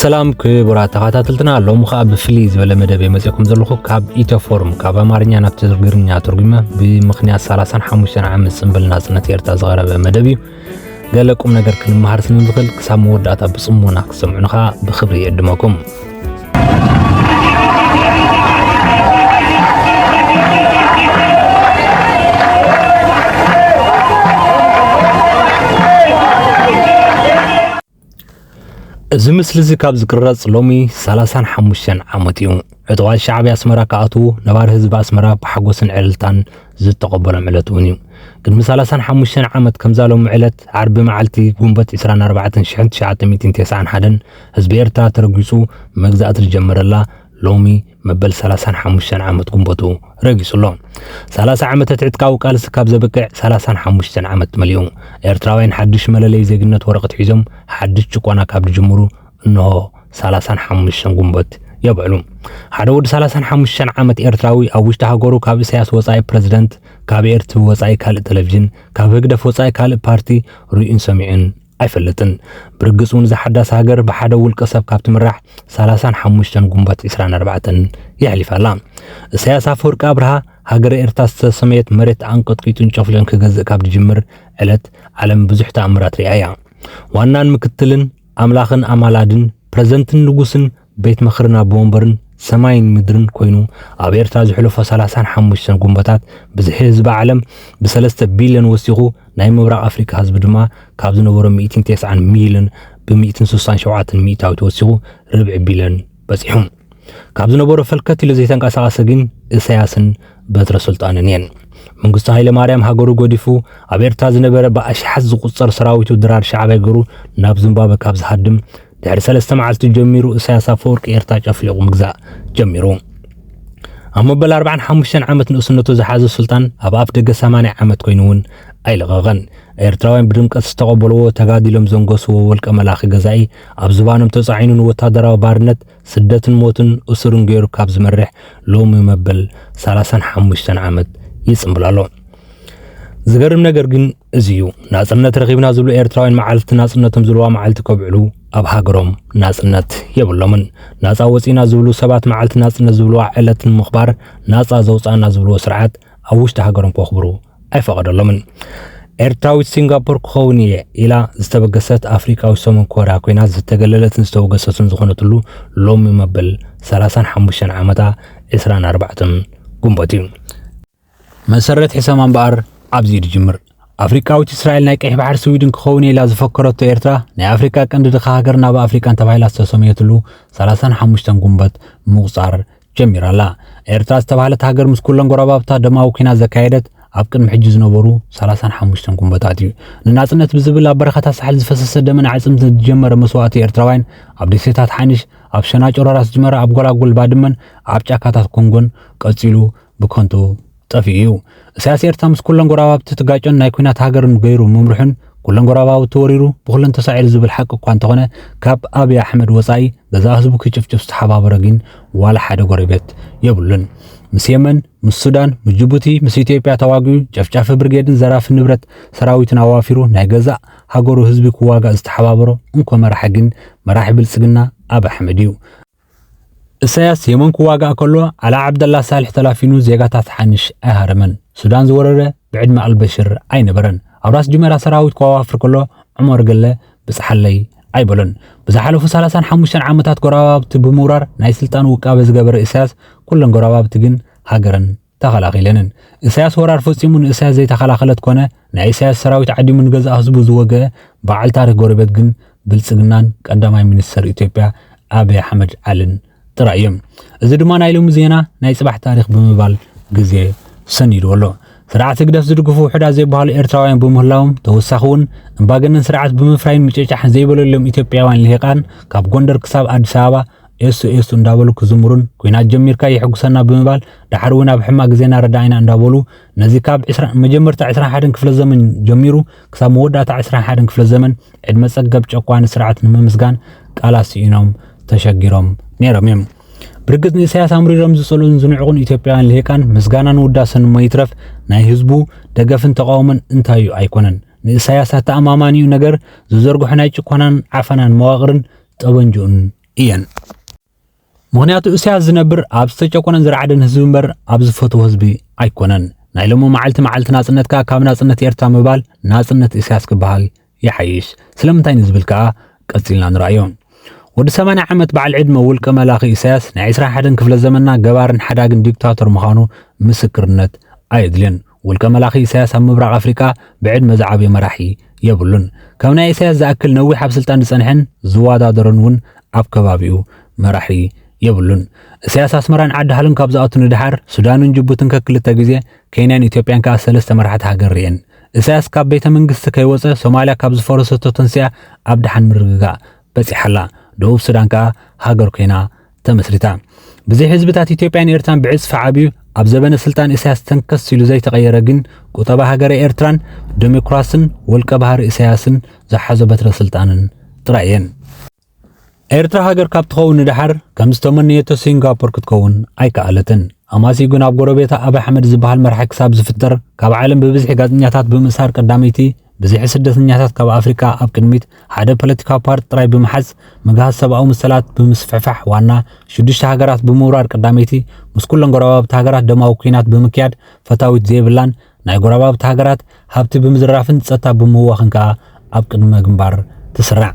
ሰላም ክቡራት ተኸታተልትና ሎም ከዓ ብፍልይ ዝበለ መደብ የመፅኩም ዘለኹ ካብ ኢትዮፎርም ካብ ኣማርኛ ናብ ትግርኛ ትርጉመ ብምክንያት 35 ዓመት ፅንብል ናፅነት ኤርትራ ዝቐረበ መደብ እዩ ገለ ቁም ነገር ክንመሃር ስለ ንኽእል ክሳብ መወዳእታ ብጽሞና ክትሰምዑን ከኣ ብኽብሪ የዕድመኩም። እዚ ምስሊ እዚ ካብ ዝቅረጽ ሎሚ ሰላሳን ሓሙሽተን ዓመት እዩ። ዕጡቓት ሻዕብያ ኣስመራ ክኣትዉ ነባሪ ህዝቢ ኣስመራ ብሓጎስን ዕልልታን ዝተቐበሎም ዕለት እውን እዩ። ቅድሚ ሰላሳን ሓሙሽተን ዓመት ከምዛ ሎሚ ዕለት ዓርቢ መዓልቲ ጉንበት 24 ሽሕን ትሽዓተ ሚእትን ተስዓን ሓደን ህዝቢ ኤርትራ ተረጊጹ መግዛእቲ ዝጀመረላ ሎሚ መበል 35 ዓመት ጉንበቱ ረጊጹ ኣሎ። 30 ዓመተ ትዕጥቃዊ ቃልሲ ካብ ዘብቅዕ 35 ዓመት መሊኡ። ኤርትራውያን ሓድሽ መለለይ ዜግነት ወረቐት ሒዞም ሓድሽ ጭቆና ካብ ዝጅምሩ እንሆ 35 ጉንበት የብዕሉ። ሓደ ወዲ 35 ዓመት ኤርትራዊ ኣብ ውሽጢ ሃገሩ ካብ ኢሳያስ ወጻኢ ፕረዚደንት፣ ካብ ኤርትቪ ወጻኢ ካልእ ቴሌቪዥን፣ ካብ ህግደፍ ወጻኢ ካልእ ፓርቲ ርእዩን ሰሚዑን ኣይፈልጥን። ብርግጽ እውን እዛ ሓዳስ ሃገር ብሓደ ውልቀ ሰብ ካብ ትምራሕ ሰላሳን ሓሙሽተን ጉንበት ዕስራን ኣርባዕተን የሕሊፋ ኣላ። እሰያስ ኣፈወርቂ ኣብርሃ ሃገረ ኤርትራ ዝተሰመየት መሬት ኣንቀጥቂጡን ጨፍሊቑን ክገዝእ ካብ ዝጅምር ዕለት ዓለም ብዙሕ ተኣምራት ሪኣ እያ። ዋናን ምክትልን፣ ኣምላኽን ኣማላድን፣ ፕረዘንትን ንጉስን፣ ቤት ምኽርን ኣቦ ወንበርን ሰማይን ምድርን ኮይኑ ኣብ ኤርትራ ዝሕለፎ ሰላሳን ሓሙሽተን ጉንበታት ብዝሒ ህዝቢ ዓለም ብሰለስተ ቢልዮን ወሲኹ ናይ ምብራቕ ኣፍሪቃ ህዝቢ ድማ ካብ ዝነበሮ ሚእትን ቴስዓን ሚልዮን ብሚእትን ስሳን ሸውዓተን ሚእታዊት ወሲኹ ርብዒ ቢልዮን በጺሑ። ካብ ዝነበሮ ፈልከት ኢሉ ዘይተንቀሳቐሰ ግን እሰያስን በትረ ስልጣንን እየን። መንግስቱ ሃይለ ማርያም ሃገሩ ጎዲፉ ኣብ ኤርትራ ዝነበረ ብኣሽሓት ዝቁጸር ሰራዊቱ ድራር ሻዕብያ ገሩ ናብ ዝምባበ ካብ ዝሃድም ድሕሪ ሰለስተ መዓልቲ ጀሚሩ እሳያስ ኣፈወርቂ ኤርትራ ጨፍሊቑ ምግዛእ ጀሚሩ። ኣብ መበል 45 ዓመት ንእስነቱ ዝሓዘ ሱልጣን ኣብ ኣፍ ደገ 80 ዓመት ኮይኑ እውን ኣይለቐቐን። ኤርትራውያን ብድምቀት ዝተቐበልዎ ተጋዲሎም ዘንገስዎ ወልቀ መላኺ ገዛኢ ኣብ ዝባኖም ተጻዒኑ ንወታደራዊ ባርነት ስደትን ሞትን እሱርን ገይሩ ካብ ዝመርሕ ሎሚ መበል 35 ዓመት ይጽምብል ኣሎ። ዝገርም ነገር ግን እዚ እዩ ናጽነት ረኺብና ዝብሉ ኤርትራውያን መዓልቲ ናጽነቶም ዝብልዋ መዓልቲ ከብዕሉ ኣብ ሃገሮም ናጽነት የብሎምን። ናጻ ወጺእና ዝብሉ ሰባት መዓልቲ ናጽነት ዝብልዋ ዕለት ንምኽባር ናጻ ዘውጽኣና ዝብልዎ ስርዓት ኣብ ውሽጢ ሃገሮም ከኽብሩ ኣይፈቐደሎምን። ኤርትራዊት ሲንጋፖር ክኸውን እየ ኢላ ዝተበገሰት ኣፍሪቃዊ ሰሙን ኮርያ ኮይና ዝተገለለትን ዝተወገሰትን ዝኾነትሉ ሎሚ መበል 35 ዓመታ 24 ግንቦት እዩ። መሰረት ሕሰማ እምበኣር ኣብዚ ድጅምር ኣፍሪቃዊት እስራኤል ናይ ቀይሕ ባሕሪ ስዊድን ክኸውን እየ ኢላ ዝፈከረቶ ኤርትራ ናይ ኣፍሪቃ ቀንዲ ድኻ ሃገር ናብ ኣፍሪቃን ተባሂላ ዝተሰምየትሉ 35 ጉንበት ምቑጻር ጀሚራ ኣላ ኤርትራ ዝተባህለት ሃገር ምስ ኩለን ጎረባብታ ደማዊ ኩናት ዘካየደት ኣብ ቅድሚ ሕጂ ዝነበሩ 35 ጉንበታት እዩ ንናጽነት ብዝብል ኣብ በረኻታት ሳሕል ዝፈሰሰ ደምን ዓጽምት ዝጀመረ መስዋእቲ ኤርትራውያን ኣብ ደሴታት ሓንሽ ኣብ ሸናጭሮ ራስ ጅመራ ኣብ ጎላጉል ባድመን ኣብ ጫካታት ኮንጎን ቀጺሉ ብከንቱ ጠፊኡ እዩ። እሳያስ ኤርትራ ምስ ኩለን ጎራባብቲ ትጋጮን ናይ ኩናት ሃገርን ገይሩ ምምርሑን ኩለን ጎራባብቲ ወሪሩ ብኩለን ተሳዒሩ ዝብል ሓቂ እኳ እንተኾነ ካብ ኣብይ ኣሕመድ ወጻኢ ገዛእ ህዝቡ ክጭፍጭፍ ዝተሓባበሮ ጊን ዋላ ሓደ ጎሬቤት የብሉን። ምስ የመን፣ ምስ ሱዳን፣ ምስ ጅቡቲ፣ ምስ ኢትዮጵያ ተዋጊኡ ጨፍጫፊ ብርጌድን ዘራፊ ንብረት ሰራዊትን ኣዋፊሩ ናይ ገዛእ ሃገሩ ህዝቢ ክዋጋእ ዝተሓባበሮ እንኮ መራሒ ጊን መራሒ ብልጽግና ኣብይ ኣሕመድ እዩ። እሰያስ የመን ክዋጋእ ከሎ ዓላ ዓብደላ ሳልሕ ተላፊኑ ዜጋታት ሓንሽ ኣይሃረመን። ሱዳን ዝወረረ ብዕድመ ኣልበሽር ኣይነበረን። ኣብ ራስ ጁሜራ ሰራዊት ከዋፍር ከሎ ዑመር ገለ ብጽሓለይ ኣይበሎን። ብዝሓለፉ ሰላሳን ሓሙሽተን ዓመታት ጎረባብቲ ብምውራር ናይ ስልጣን ውቃበ ዝገበረ እሰያስ ኩለን ጎረባብቲ ግን ሃገረን ተኸላኺለንን። እሳያስ ወራር ፈጺሙ ንእሳያስ ዘይተኸላኸለት ኮነ ናይ እሳያስ ሰራዊት ዓዲሙ ንገዛእ ህዝቡ ዝወገኣ በዓል ታሪኽ ጎረቤት ግን ብልጽግናን ቀዳማይ ሚኒስተር ኢትዮጵያ ኣብይ ኣሕመድ ዓልን ጥራይ እዮም። እዚ ድማ ናይ ሎሚ ዜና ናይ ጽባሕ ታሪኽ ብምባል ግዜ ሰኒድዎ ኣሎ። ስርዓት ህግደፍ ዝድግፉ ውሑዳት ዘይበሃሉ ኤርትራውያን ብምህላዎም ተወሳኺ እውን እምባገነን ስርዓት ብምፍራይን ምጭጫሕን ዘይበለሎም ኢትዮጵያውያን ልሂቃን ካብ ጎንደር ክሳብ ኣዲስ ኣበባ ኤሱ ኤሱ እንዳበሉ ክዝምሩን ኩናት ጀሚርካ የሕጉሰና ብምባል ደሓር እውን ኣብ ሕማቅ ግዜና ረዳኢና እንዳበሉ ነዚ ካብ መጀመርታ 21 ክፍለ ዘመን ጀሚሩ ክሳብ መወዳእታ 21 ክፍለ ዘመን ዕድመ ጸገብ ጨቋኒ ስርዓት ንምምስጋን ቃላት ስኢኖም ተሸጊሮም ነይሮም እዮም። ብርግጽ ንኢሳያስ ኣምሪሮም ዝጸልኡን ዝንዕቑን ኢትዮጵያውያን ልሂቃን ምስጋናን ውዳሰን እሞ ይትረፍ ናይ ህዝቡ ደገፍን ተቃውሞን እንታይ እዩ ኣይኮነን። ንኢሳያስ ኣተኣማማኒኡ ነገር ዝዘርግሖ ናይ ጭኮናን ዓፈናን መዋቕርን ጠበንጅኡን እየን። ምኽንያቱ እሳያስ ዝነብር ኣብ ዝተጨቆነን ዝረዓደን ህዝቢ እምበር ኣብ ዝፈትዎ ህዝቢ ኣይኮነን። ናይ ሎሚ መዓልቲ መዓልቲ ናጽነትካ ካብ ናጽነት ኤርትራ ምባል ናጽነት ኢሳያስ ክበሃል ይሓይሽ ስለምንታይ ንዝብል ከኣ ቀጺልና ንርኣዮ። ወዲ 80 ዓመት በዓል ዕድመ ውልቀ መላኺ ኢሳያስ ናይ 21 ክፍለ ዘመንና ገባርን ሓዳግን ዲክታቶር ምዃኑ ምስክርነት ኣየድልዮን። ውልቀ መላኺ ኢሳያስ ኣብ ምብራቕ ኣፍሪቃ ብዕድመ ዝዓብየ መራሒ የብሉን። ከም ናይ ኢሳያስ ዝኣክል ነዊሕ ኣብ ስልጣን ዝጸንሐን ዝወዳደሮን እውን ኣብ ከባቢኡ መራሒ የብሉን። እሳያስ ኣስመራን ዓዲ ሃሎን ካብ ዝኣቱ ንደሓር ሱዳንን ጅቡትን ከክልተ ግዜ፣ ኬንያን ኢትዮጵያን ከኣ ሰለስተ መራሕቲ ሃገር ርእየን። እሳያስ ካብ ቤተ መንግስቲ ከይወጸ ሶማልያ ካብ ዝፈረሰቶ ተንሲኣ ኣብ ደሓን ምርግጋእ በጺሓ ኣላ። ደቡብ ሱዳን ከኣ ሃገር ኮይና ተመስሪታ ብዘይ ህዝብታት ኢትዮጵያን ኤርትራን ብዕጽፊ ዓብዩ ኣብ ዘበነ ስልጣን ኢሳያስ ተንከስ ኢሉ ዘይተቐየረ ግን ቁጠባ ሃገረ ኤርትራን ደሞክራስን ወልቀ ባህሪ ኢሳያስን ዝሓዞ በትረ ስልጣንን ጥራይ እየን። ኤርትራ ሃገር ካብ ትኸውን ንደሓር ከም ዝተመነየቶ ሲንጋፖር ክትከውን ኣይከኣለትን። ኣማሲኡ ግን ኣብ ጎረቤታ ኣብ ኣሕመድ ዝበሃል መራሒ ክሳብ ዝፍጠር ካብ ዓለም ብብዝሒ ጋዜጠኛታት ብምእሳር ቀዳመይቲ ብዝሒ ስደተኛታት ካብ ኣፍሪቃ ኣብ ቅድሚት ሓደ ፖለቲካዊ ፓርቲ ጥራይ ብምሓዝ፣ ምግሃስ ሰብኣዊ መሰላት ብምስፍሕፋሕ ዋና ሽዱሽተ ሃገራት ብምውራር ቀዳመይቲ፣ ምስ ኩለን ጎረባብቲ ሃገራት ደማዊ ኲናት ብምክያድ ፈታዊት ዘይብላን ናይ ጎረባብቲ ሃገራት ሃብቲ ብምዝራፍን ጸጥታ ብምውዋኽን ከኣ ኣብ ቅድመ ግንባር ትስራዕ።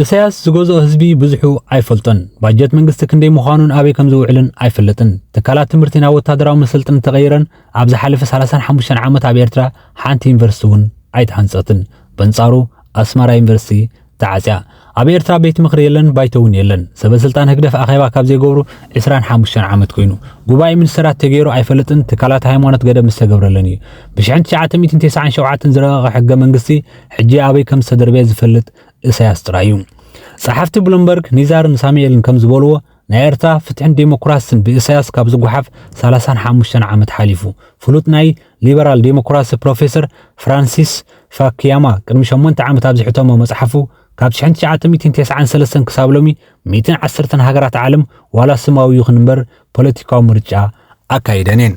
እሰያስ ዝገዝኦ ህዝቢ ብዝሑ ኣይፈልጦን። ባጀት መንግስቲ ክንደይ ምዃኑን ኣበይ ከምዝውዕልን ኣይፈልጥን። ትካላት ትምህርቲ ናብ ወተሃደራዊ መሰልጥኒ ተቐይረን፣ ኣብ ዝሓለፈ ሰላሳን ሓሙሽተን ዓመት ኣብ ኤርትራ ሓንቲ ዩኒቨርሲቲ እውን ኣይተሃንጸትን። በንጻሩ ኣስመራ ዩኒቨርሲቲ ተዓጽያ። ኣብ ኤርትራ ቤት ምኽሪ የለን፣ ባይቶ እውን የለን። ሰበ ስልጣን ህግደፍ ኣኼባ ካብ ዘይገብሩ ዕስራን ሓሙሽተን ዓመት ኮይኑ። ጉባኤ ሚኒስተራት ተገይሩ ኣይፈልጥን፣ ትካላት ሃይማኖት ገደብ ምስ ተገብረለን እዩ። ብሽሕን ትሽዓተ ሚእትን ተስዓን ሸውዓተን ዝረቐቐ ሕገ መንግስቲ ሕጂ ኣበይ ከም ዝተደርበየ ዝፈልጥ እሰያስ ጥራይ እዩ። ጸሓፍቲ ብሉምበርግ፣ ኒዛርን ሳሙኤልን ከም ዝበልዎ ናይ ኤርትራ ፍትሕን ዴሞክራስን ብእሳያስ ካብ ዝጎሓፍ ሰላሳን ሓሙሽተን ዓመት ሓሊፉ። ፍሉጥ ናይ ሊበራል ዴሞክራሲ ፕሮፌሰር ፍራንሲስ ፋክያማ ቅድሚ ሸሞንተ ዓመት ኣብ ዝሐተሞ መጽሓፉ ካብ ሽሕን ትሽዓተ ሚእቲን ቴስዓን ሰለስተን ክሳብ ሎሚ ሚእትን ዓሰርተን ሃገራት ዓለም ዋላ ስማዊ ይኹን እምበር ፖለቲካዊ ምርጫ ኣካይደን እየን።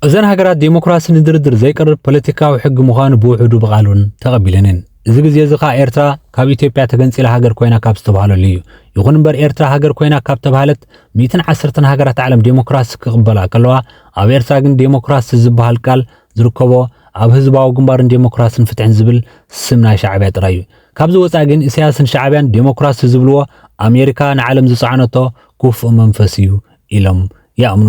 እዘን ሃገራት ዴሞክራሲ ንድርድር ዘይቀርብ ፖለቲካዊ ሕጊ ምዃኑ ብውሕዱ ብቓሉን ተቐቢለን እየን። እዚ ግዜ እዚ ከኣ ኤርትራ ካብ ኢትዮጵያ ተገንጺላ ሃገር ኮይና ካብ ዝተባህለሉ እዩ። ይኹን እምበር ኤርትራ ሃገር ኮይና ካብ ተባህለት ሚእትን ዓሰርተን ሃገራት ዓለም ዴሞክራሲ ክቕበላ ከለዋ ኣብ ኤርትራ ግን ዴሞክራሲ ዝበሃል ቃል ዝርከቦ ኣብ ህዝባዊ ግንባር ንዴሞክራስን ፍትሕን ዝብል ስም ናይ ሻዕብያ ጥራይ እዩ ካብዚ ወፃኢ ግን ኢሳያስን ሻዕብያን ዴሞክራሲ ዝብልዎ ኣሜሪካ ንዓለም ዝፀዓነቶ ኩፉእ መንፈስ እዩ ኢሎም ይኣምኑ።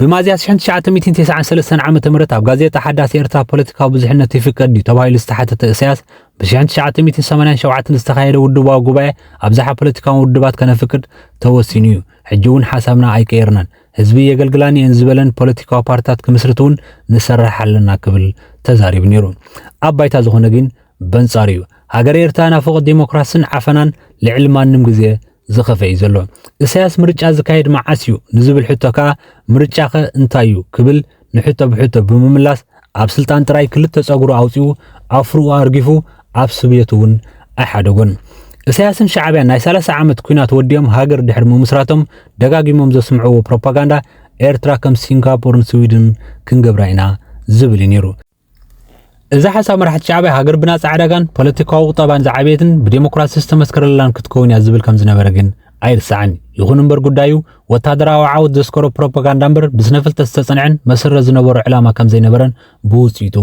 ብሚያዝያ 1993 ዓ.ም ኣብ ጋዜጣ ሓዳስ ኤርትራ ፖለቲካዊ ብዙሕነት ይፍቀድ ድዩ ተባሂሉ ዝተሓተተ እሰያስ ብ1987 ዝተኻየደ ውድባዊ ጉባኤ ኣብዝሓ ፖለቲካዊ ውድባት ከነፍቅድ ተወሲኑ እዩ። ሕጂ እውን ሓሳብና ኣይቀየርናን። ህዝቢ የገልግላን እየን ዝበለን ፖለቲካዊ ፓርትታት ክምስርት እውን ንሰራሕ ኣለና ክብል ተዛሪቡ ነይሩ። ኣብ ባይታ ዝኾነ ግን በንጻሩ'ዩ ሃገረ ኤርትራ ናፍቖት ደሞክራስን ዓፈናን ልዕሊ ማንም ግዜ ዝኸፍኤ'ዩ ዘሎ። እሰያስ ምርጫ ዝካየድ መዓስ'ዩ ንዝብል ሕቶ ከኣ ምርጫኸ እንታይ'ዩ ክብል ንሕቶ ብሕቶ ብምምላስ ኣብ ስልጣን ጥራይ ክልተ ጸጉሩ ኣውጺኡ ኣፍርኡ ኣርጊፉ ኣብ ስብየቱ'ውን ኣይሓደጎን። እሰያስን ሻዕብያን ናይ ሰላሳ ዓመት ኩናት ወዲኦም ሃገር ድሕሪ ምምስራቶም ደጋጊሞም ዘስምዕዎ ፕሮፓጋንዳ ኤርትራ ከም ሲንጋፖርን ስዊድንን ክንገብራ ኢና ዝብል'ዩ ነይሩ። እዚ ሓሳብ መራሕቲ ሻዕብያ ሃገር ብናጻ ዕዳጋን ፖለቲካዊ ቁጠባን ዝዓበየትን ብዴሞክራሲ ዝተመስከረላን ክትከውን እያ ዝብል ከም ዝነበረ ግን ኣይርሳዕን። ይኹን እምበር ጉዳዩ ወታደራዊ ዓወት ዘስከሮ ፕሮፓጋንዳ እምበር ብስነ ፍልጠት ዝተጸንዐን መሰረት ዝነበሮ ዕላማ ከም ዘይነበረን ብውጽኢቱ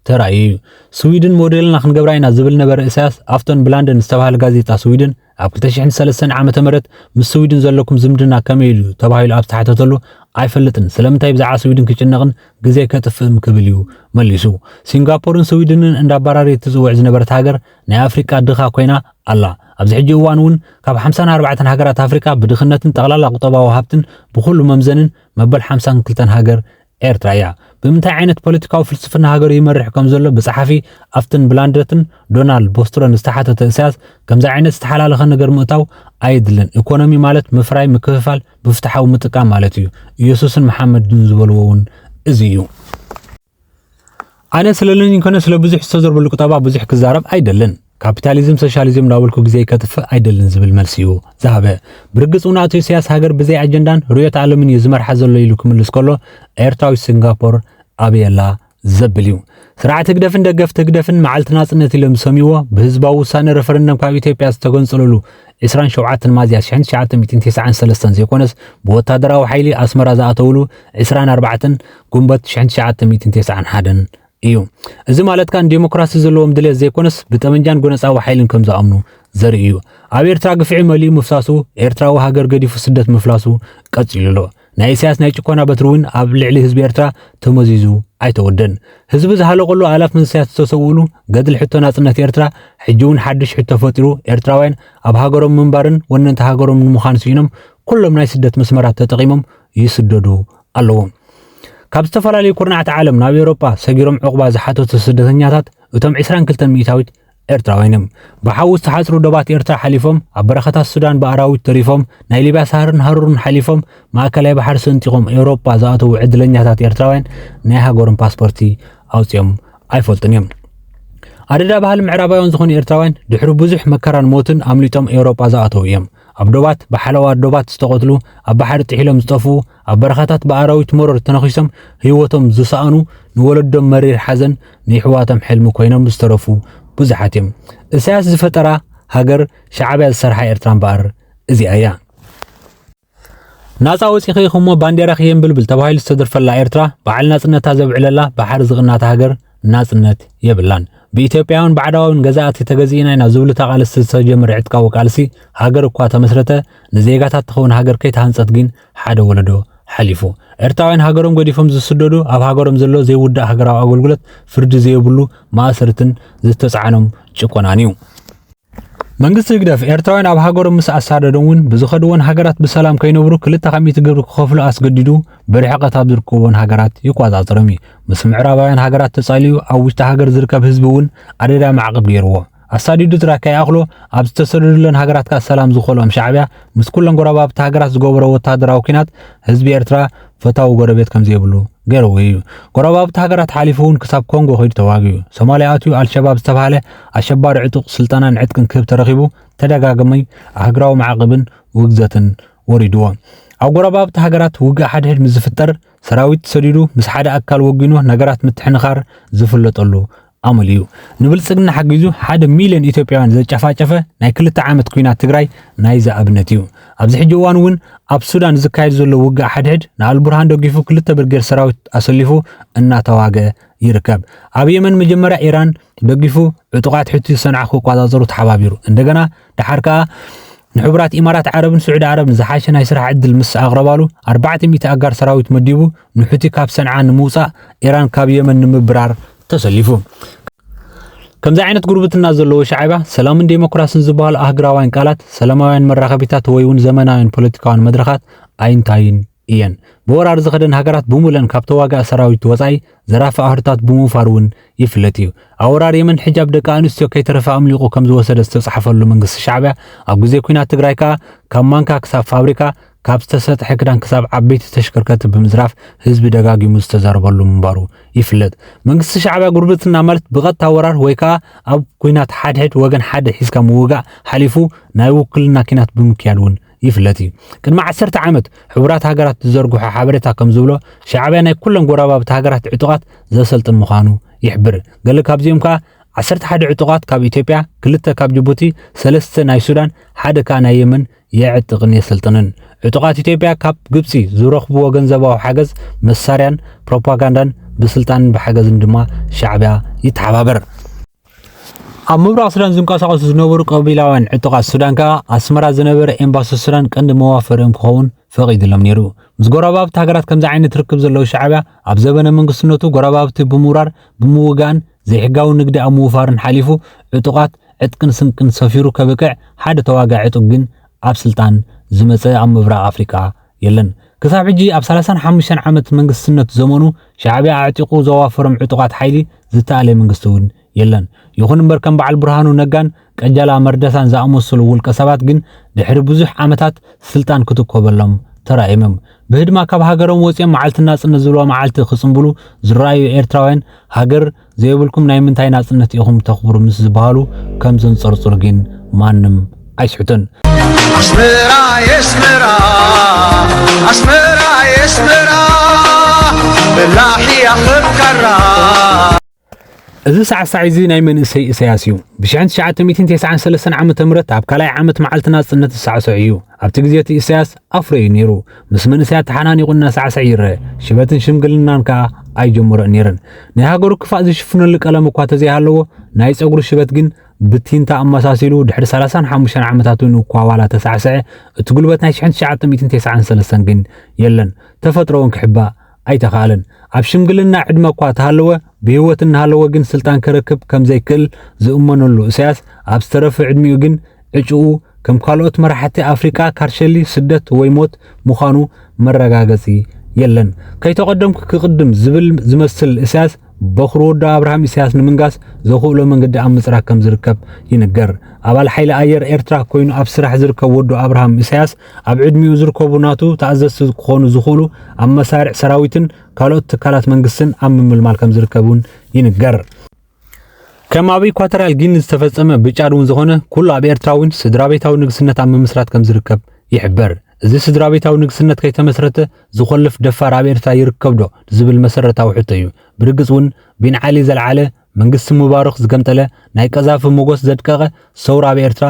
ተራእዩ እዩ። ስዊድን ሞዴልና ክንገብራ ኢና ዝብል ነበረ ኢሳያስ ኣብተን ብላንደን ዝተባህለ ጋዜጣ ስዊድን ኣብ 2003 ዓመተ ምህረት ምስ ስዊድን ዘለኩም ዝምድና ከመይ ኢሉ ተባሂሉ ኣብ ዝተሓተተሉ ኣይፈልጥን፣ ስለምንታይ ብዛዕባ ስዊድን ክጭነቕን ግዜ ከጥፍእን ክብል እዩ መሊሱ። ሲንጋፖርን ስዊድንን እንዳባራረየት ትጽውዕ ዝነበረት ሃገር ናይ ኣፍሪቃ ድኻ ኮይና ኣላ። ኣብዚ ሕጂ እዋን እውን ካብ ሓምሳን ኣርባዕተን ሃገራት ኣፍሪቃ ብድኽነትን ጠቕላላ ቁጠባዊ ሃብትን ብኹሉ መምዘንን መበል ሓምሳን ክልተን ሃገር ኤርትራ እያ። ብምንታይ ዓይነት ፖለቲካዊ ፍልስፍና ሃገሩ ይመርሕ ከም ዘሎ ብጸሓፊ ኣፍትን ብላንድረትን ዶናልድ ቦስትሮን ዝተሓተተ እሳያስ ከምዚ ዓይነት ዝተሓላለኸ ነገር ምእታው ኣየድልን። ኤኮኖሚ ማለት ምፍራይ፣ ምክፍፋል፣ ብፍትሓዊ ምጥቃም ማለት እዩ። ኢየሱስን መሓመድን ዝበልዎ እውን እዚ እዩ። ኣነ ስለለኒ ኮነ ስለ ብዙሕ ዝተዘርበሉ ቁጠባ ብዙሕ ክዛረብ ኣይደልን። ካፒታሊዝም ሶሻሊዝም እንዳበልኩ ግዜይ ከጥፍእ ኣይደልን ዝብል መልሲ እዩ ዝሃበ። ብርግጽ እውን ኣቶ ኢሳያስ ሃገር ብዘይ ኣጀንዳን ርዕዮተ ዓለምን እዩ ዝመርሓ ዘሎ ኢሉ ክምልስ ከሎ ኤርትራዊት ሲንጋፖር ኣበየላ ዘብል እዩ። ስርዓት ህግደፍን ደገፍቲ ህግደፍን መዓልቲ ናጽነት ኢሎም ዝሰምይዎ ብህዝባዊ ውሳነ ረፈረንደም ካብ ኢትዮጵያ ዝተገንጸለሉ ዕስራን ሸውዓተን ሚያዝያ ሽሕን ትሽዓተ ሚእትን ቴስዓን ሰለስተን ዘይኮነስ ብወታደራዊ ሓይሊ ኣስመራ ዝኣተውሉ ዕስራን ኣርባዕተን ጉንበት ሽሕን ትሽዓተ ሚእትን ቴስዓን ሓደን እዩ። እዚ ማለት ከኣ ንዴሞክራሲ ዘለዎም ድሌት ዘይኮነስ ብጠበንጃን ጎነጻዊ ሓይልን ከም ዝኣምኑ ዘርኢ እዩ። ኣብ ኤርትራ ግፍዒ መሊኡ ምፍሳሱ፣ ኤርትራዊ ሃገር ገዲፉ ስደት ምፍላሱ ቀጺሉ ኣሎ። ናይ ኢሳያስ ናይ ጭኮና በትሪ እውን ኣብ ልዕሊ ህዝቢ ኤርትራ ተመዚዙ ኣይተወደን። ህዝቢ ዝሃለቐሉ ኣላፍ መንሰያት ዝተሰውእሉ ገድሊ ሕቶ ናጽነት ኤርትራ ሕጂ እውን ሓድሽ ሕቶ ፈጢሩ ኤርትራውያን ኣብ ሃገሮም ምንባርን ወነንቲ ሃገሮም ንምዃን ስኢኖም ኩሎም ናይ ስደት መስመራት ተጠቒሞም ይስደዱ ኣለዉ። ካብ ዝተፈላለዩ ኩርናዓት ዓለም ናብ ኤውሮጳ ሰጊሮም ዑቕባ ዝሓተቱ ስደተኛታት እቶም ዕስራን ክልተን ሚእታዊት ኤርትራውያን እዮም። ብሓዊ ዝተሓጽሩ ዶባት ኤርትራ ሓሊፎም፣ ኣብ በረኻታት ሱዳን ብኣራዊት ተሪፎም፣ ናይ ሊብያ ሳህርን ሃሩርን ሓሊፎም፣ ማእከላይ ባሕሪ ሰንጢቖም ኤውሮጳ ዝኣተዉ ዕድለኛታት ኤርትራውያን ናይ ሃገሮም ፓስፖርቲ ኣውጺኦም ኣይፈልጡን እዮም። ኣደዳ ባህሊ ምዕራባውያን ዝኾኑ ኤርትራውያን ድሕሪ ብዙሕ መከራን ሞትን ኣምሊጦም ኤውሮጳ ዝኣተዉ እዮም። ኣብ ዶባት ብሓለዋ ዶባት ዝተቐትሉ፣ ኣብ ባሕሪ ጥሒሎም ዝጠፍኡ፣ ኣብ በረኻታት ብኣራዊት መሮር ተነኺሶም ህይወቶም ዝሰኣኑ፣ ንወለዶም መሪር ሓዘን፣ ንይሕዋቶም ሕልሚ ኮይኖም ዝተረፉ ብዙሓት እዮም። እሳያስ ዝፈጠራ ሃገር፣ ሻዕብያ ዝሰርሓ ኤርትራ እምበኣር እዚኣ እያ። ናጻ ወጺኺ እሞ ባንዴራኺ የንብልብል ተባሂሉ ዝተደርፈላ ኤርትራ፣ በዓል ናጽነታ ዘብዕለላ ባሕሪ ዝቕናታ ሃገር ናጽነት የብላን። ብኢትዮጵያውን ባዕዳውን ገዛእቲ ተገዚእና ኢና ዝብሉ ተቓለስቲ ዝተጀመረ ዕጥቃዊ ቃልሲ ሃገር እኳ ተመስረተ ንዜጋታት ትኸውን ሃገር ከይተሃንጸት ግን ሓደ ወለዶ ሓሊፉ ኤርትራውያን ሃገሮም ገዲፎም ዝስደዱ ኣብ ሃገሮም ዘሎ ዘይውዳእ ሃገራዊ ኣገልግሎት ፍርዲ ዘይብሉ ማእሰርትን ዝተጻዕኖም ጭቆናን እዩ። መንግስቲ ህግደፍ ኤርትራውያን ኣብ ሃገሮም ምስ ኣሳደዶም እውን ብዝኸድዎን ሃገራት ብሰላም ከይነብሩ ክልተ ካብ ሚእቲ ግብሪ ክኸፍሉ ኣስገዲዱ ብርሕቐት ኣብ ዝርከቦን ሃገራት ይቆጻጸሮም እዩ። ምስ ምዕራባውያን ሃገራት ተጻልዩ ኣብ ውሽጢ ሃገር ዝርከብ ህዝቢ እውን ኣደዳ ማዕቕብ ገይርዎ። ኣሳዲዱ ጥራይ ከይኣኽሎ ኣብ ዝተሰደዱለን ሃገራት ከኣ ሰላም ዝኸልኦም ሻዕብያ ምስ ኩለን ጎረባብቲ ሃገራት ዝገበሮ ወተሃደራዊ ኲናት ህዝቢ ኤርትራ ፈታዊ ጎረቤት ከምዘይብሉ ገይርዎ እዩ። ጎረባብቲ ሃገራት ሓሊፉ እውን ክሳብ ኮንጎ ከይዱ ተዋጊኡ። ሶማልያ ኣትዩ ኣልሸባብ ዝተብሃለ ኣሸባሪ ዕጡቕ ስልጠናን ዕጥቅን ክህብ ተረኺቡ ተደጋጋሚ ኣህግራዊ ማዕቕብን ውግዘትን ወሪድዎ። ኣብ ጎረባብቲ ሃገራት ውግእ ሓድሕድ ምስ ዝፍጠር ሰራዊት ሰዲዱ ምስ ሓደ ኣካል ወጊኑ ነገራት ምትሕንኻር ዝፍለጠሉ ኣመሉ እዩ ንብልፅግና ሓጊዙ ሓደ ሚልዮን ኢትዮጵያውያን ዘጫፋጨፈ ናይ ክልተ ዓመት ኩናት ትግራይ ናይዚ ኣብነት እዩ። ኣብዚ ሕጂ እዋን እውን ኣብ ሱዳን ዝካየድ ዘሎ ውግእ ሓድሕድ ንኣልቡርሃን ደጊፉ ክልተ ብርጌድ ሰራዊት ኣሰሊፉ እናተዋግኣ ይርከብ። ኣብ የመን መጀመርያ ኢራን ደጊፉ ዕጡቓት ሑቲ ሰንዓ ክቋፃፀሩ ተሓባቢሩ እንደገና ደሓር ከዓ ንሕቡራት ኢማራት ዓረብን ስዑዲ ዓረብን ዝሓሸ ናይ ስራሕ ዕድል ምስ ኣቕረባሉ፣ ኣርባዕተ ሚእቲ ኣጋር ሰራዊት መዲቡ ንሑቲ ካብ ሰንዓ ንምውጻእ፣ ኢራን ካብ የመን ንምብራር ተሰሊፉ። ከምዚ ዓይነት ጉርብትና ዘለዎ ሻዕብያ፣ ሰላምን ዴሞክራስን ዝበሃሉ ኣህግራውያን ቃላት፣ ሰላማውያን መራኸቢታት ወይ'ውን ዘመናውያን ፖለቲካውያን መድረኻት ኣይንታዩን። እየን። ብወራር ዝኸደን ሃገራት ብሙልእን ካብ ተዋጋኢ ሰራዊት ወጻኢ ዘራፊ ኣህርታት ብምውፋር እውን ይፍለጥ እዩ። ኣብ ወራር የመን ሕጃብ ደቂ ኣንስትዮ ከይተረፈ ኣምሊቑ ከምዝወሰደ ዝተጻሕፈሉ መንግስቲ ሻዕቢያ ኣብ ግዜ ኩናት ትግራይ ከኣ ካብ ማንካ ክሳብ ፋብሪካ ካብ ዝተሰጥሐ ክዳን ክሳብ ዓበይቲ ተሽከርከርቲ ብምዝራፍ ህዝቢ ደጋጊሙ ዝተዛረበሉ ምንባሩ ይፍለጥ። መንግስቲ ሻዕቢያ ጉርብትና ማለት ብቐጥታ ወራር ወይ ከኣ ኣብ ኩናት ሓድሕድ ወገን ሓደ ሒዝካ ምውጋእ ሓሊፉ ናይ ውክልና ኪናት ብምክያድ እውን ይፍለጥ እዩ። ቅድሚ ዓሰርተ ዓመት ሕቡራት ሃገራት ዝዘርግሖ ሓበሬታ ከም ዝብሎ ሻዕብያ ናይ ኩለን ጎረባብቲ ሃገራት ዕጡቓት ዘሰልጥን ምዃኑ ይሕብር። ገለ ካብዚኦም ከኣ ዓሰርተ ሓደ ዕጡቓት ካብ ኢትዮጵያ፣ ክልተ ካብ ጅቡቲ፣ ሰለስተ ናይ ሱዳን፣ ሓደ ከኣ ናይ የመን የዕጥቕን የሰልጥንን። ዕጡቓት ኢትዮጵያ ካብ ግብጺ ዝረኽብዎ ገንዘባዊ ሓገዝ፣ መሳርያን ፕሮፓጋንዳን ብስልጣንን ብሓገዝን ድማ ሻዕብያ ይተሓባበር። ኣብ ምብራቕ ሱዳን ዝንቀሳቐሱ ዝነበሩ ቀቢላውያን ዕጡቓት ሱዳን ከኣ ኣስመራ ዝነበረ ኤምባሲ ሱዳን ቀንዲ መዋፈሪኦም ክኸውን ፈቒድሎም ነይሩ። ምስ ጎረባብቲ ሃገራት ከምዚ ዓይነት ርክብ ዘለዎ ሻዕብያ ኣብ ዘበነ መንግስትነቱ ጎረባብቲ ብምውራር ብምውጋእን ዘይሕጋዊ ንግዲ ኣብ ምውፋርን ሓሊፉ ዕጡቓት ዕጥቅን ስንቅን ሰፊሩ ከብቅዕ ሓደ ተዋጋኢ ዕጡቕ ግን ኣብ ስልጣን ዝመጸ ኣብ ምብራቕ ኣፍሪቃ የለን። ክሳብ ሕጂ ኣብ ሰላሳን ሓሙሽተን ዓመት መንግስትነት ዘመኑ ሻዕብያ ኣዕጢቑ ዘዋፈሮም ዕጡቓት ሓይሊ ዝተኣለየ መንግስቲ እውን የለን። ይኹን እምበር ከም በዓል ብርሃኑ ነጋን ቀጀላ መርደሳን ዝኣመሰሉ ውልቀ ሰባት ግን ድሕሪ ብዙሕ ዓመታት ስልጣን ክትኮበሎም ተራእዮም እዮም። ብህድማ ካብ ሃገሮም ወጺኦም መዓልቲ ናጽነት ዝብልዋ መዓልቲ ክጽንብሉ ዝረኣዩ ኤርትራውያን ሃገር ዘይብልኩም ናይ ምንታይ ናጽነት ኢኹም ተኽብሩ ምስ ዝበሃሉ ከም ዘንጸርጽሩ ግን ማንም ኣይስሕቱን። ኣስመራ የስመራ ኣስመራ የስመራ በላሕያ ኸካራ እዚ ሳዕሳዕ እዚ ናይ መንእሰይ እሰያስ እዩ። ብ1993 ዓ ም ኣብ ካልኣይ ዓመት መዓልቲ ናጽነት ዝሳዕስዕ እዩ። ኣብቲ ግዜ እቲ ኢሳያስ ኣፍሮ እዩ ነይሩ። ምስ መንእሰያት ተሓናኒቑ እናሳዕስዐ ይረአ፣ ሽበትን ሽምግልናን ከኣ ኣይጀመሮን ነይረን። ናይ ሃገሩ ክፋእ ዝሽፍነሉ ቀለም እኳ ተዘይሃለዎ፣ ናይ ጸጉሩ ሽበት ግን ብቲንታ ኣመሳሲሉ ድሕሪ ሰላሳን ሓሙሽተን ዓመታት እውን እኳ ዋላ ተሳዕሰዐ፣ እቲ ጉልበት ናይ ሽሕን ትሽዓተ ሚእትን ቴስዓን ሰለስተን ግን የለን። ተፈጥሮ'ውን ክሕባእ ኣይተኻእለን። ኣብ ሽምግልና ዕድመ'ኳ ተሃለወ፣ ብህይወት እናሃለወ ግን ስልጣን ከረክብ ከም ዘይክእል ዝእመነሉ እሳያስ፣ ኣብ ዝተረፈ ዕድሚኡ ግን ዕጭኡ፣ ከም ካልኦት መራሕቲ ኣፍሪቃ ካርሸሊ ስደት ወይ ሞት ምዃኑ መረጋገጺ የለን። ከይተቐደምኩ ክቕድም ዝብል ዝመስል እሳያስ፣ በዅሪ ወዱ ኣብርሃም ኢሳያስ ንምንጋስ ዘኽእሎ መንገዲ ኣብ ምጽራግ ከም ዝርከብ ይንገር። ኣባል ሓይሊ ኣየር ኤርትራ ኰይኑ ኣብ ስራሕ ዝርከብ ወዱ ኣብርሃም ኢሳያስ፣ ኣብ ዕድሚኡ ዝርከቡ ናቱ ተኣዘዝቲ ክዀኑ ዝኽእሉ ኣብ መሳርዕ ሰራዊትን ካልኦት ትካላት መንግስትን ኣብ ምምልማል ከም ዝርከብ እውን ይንገር። ከም ኣብ ኢኳቶርያል ጊኒ ዝተፈጸመ ብጫድ እውን ዝኾነ ኩሉ ኣብ ኤርትራ እውን ስድራቤታዊ ንግስነት ኣብ ምምስራት ከም ዝርከብ ይሕበር። እዚ ስድራቤታዊ ንግስነት ከይተመስረተ ዝዀልፍ ደፋር ኣብ ኤርትራ ይርከብዶ? ዝብል መሰረታዊ ሕቶ እዩ። ብርግጽ እውን ቢን ዓሊ ዘልዓለ፣ መንግስቲ ሙባርኽ ዝገምጠለ፣ ናይ ቀዛፊ ሞጎስ ዘድቀቐ ሰውራ ኣብ ኤርትራ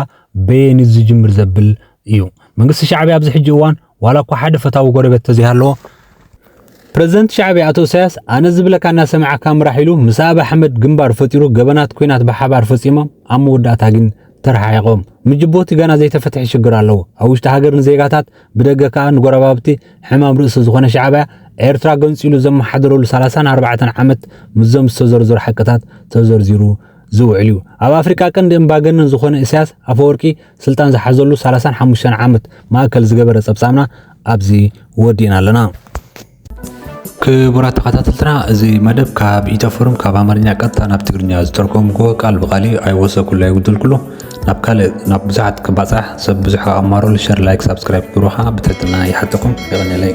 በየን እዩ ዝጅምር ዘብል እዩ። መንግስቲ ሻዕብያ ኣብዚ ሕጂ እዋን ዋላ እኳ ሓደ ፈታዊ ጎረቤት ተዘይሃለዎ፣ ፕረዚደንት ሻዕብያ ኣቶ እሳያስ ኣነ ዝብለካ እናሰማዕካ ምራሕ ኢሉ ምስ ኣብይ ኣሕመድ ግንባር ፈጢሩ ገበናት ኲናት ብሓባር ፈጺሞም ኣብ መወዳእታ ግን ተረሓሒቖም። ምስ ጅቡቲ ገና ዘይተፈትሐ ሽግር ኣለዎ። ኣብ ውሽጢ ሃገር ንዜጋታት ብደገ ከኣ ንጎረባብቲ ሕማም ርእሲ ዝኾነ ሻዕብያ ኤርትራ ገንጺሉ ዘመሓደረሉ ሰላሳን ኣርባዕተን ዓመት ምስዞም ዝተዘርዘሩ ሓቅታት ተዘርዚሩ ዝውዕል እዩ። ኣብ ኣፍሪቃ ቀንዲ እምባገነን ዝኾነ ኢሳያስ ኣፈወርቂ ስልጣን ዝሓዘሉ ሰላሳን ሓሙሽተን ዓመት ማእከል ዝገበረ ጸብጻብና ኣብዚ ወዲእና ኣለና። ክቡራት ተኸታተልትና እዚ መደብ ካብ ኢትዮ ፎረም ካብ ኣማርኛ ቀጥታ ናብ ትግርኛ ዝተርጎምኩዎ ቃል ብቃል እዩ ኣይወሰኩሉ ኣይጉድልኩሉ ናብ ካልእ ናብ ብዙሓት ክባፃሕ ሰብ ብዙሕ ኣማሮሉ ሸር ላይክ ሳብስክራይብ ግብሩ ከዓ ብትሕትና ይሓተኩም ይቕንለይ